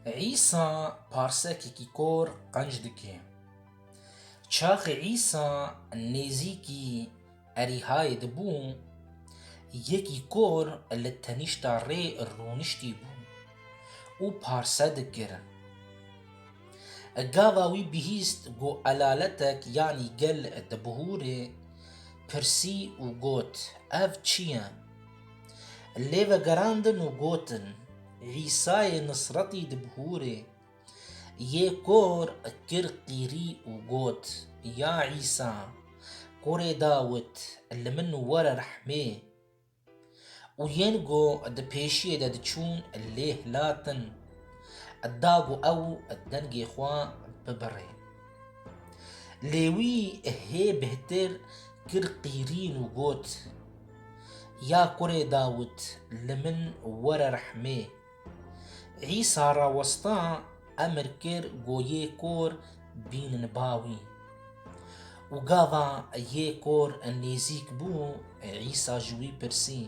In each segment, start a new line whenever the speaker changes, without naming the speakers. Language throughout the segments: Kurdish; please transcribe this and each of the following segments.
Îsa parsekekî kor qenc dike. Çaxê Îsa nêzîkî Erîhayê dibû, yekî kor li tenîşta rê rûniştî bû û parse dikir. Gava wî bihîst ku elaletek yanî gel dibihûre, pirsî û got, Ev çi ye? Lê vegerandin û gotin, Îsayê Nisretî di bihûrê yê kor kir qîrî û got, Ya Îsa, Kurê Dawit, li min were rehmê! Û yên ku di pêşiyê de diçûn lê hilatin, da ku ew dengê xwe bibirê. Lê wî hê bihtir kir qîrîn û got, Ya kurê Dawûd, li min were rehmê! Îsa rawesta emir kir ku yê kor bînin ba wî. Û gava yê kor nêzîk bû, Îsa ji wî pirsî,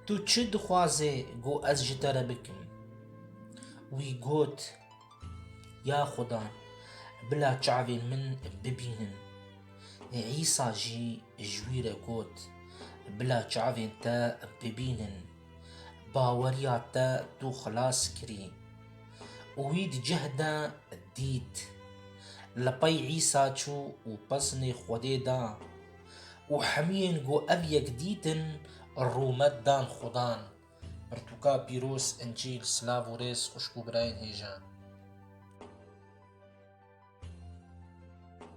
Tu çi dixwazê ku ez ji te re bikim? Wî got, Ya Xuda, bila çavên min bibînin. Îsa jî ji wî re got, Bila çavên te bibînin. Baweriya te tu xilas kirî. Û wî di cih de dît. Li pey Îsa çû û pesnê Xwedê da. Û hemûyên ku ev yek dîtin rûmet dan Xudan. Pirtûka pîroz, Încîl, silav û rêz xwişk û birayên hêjan.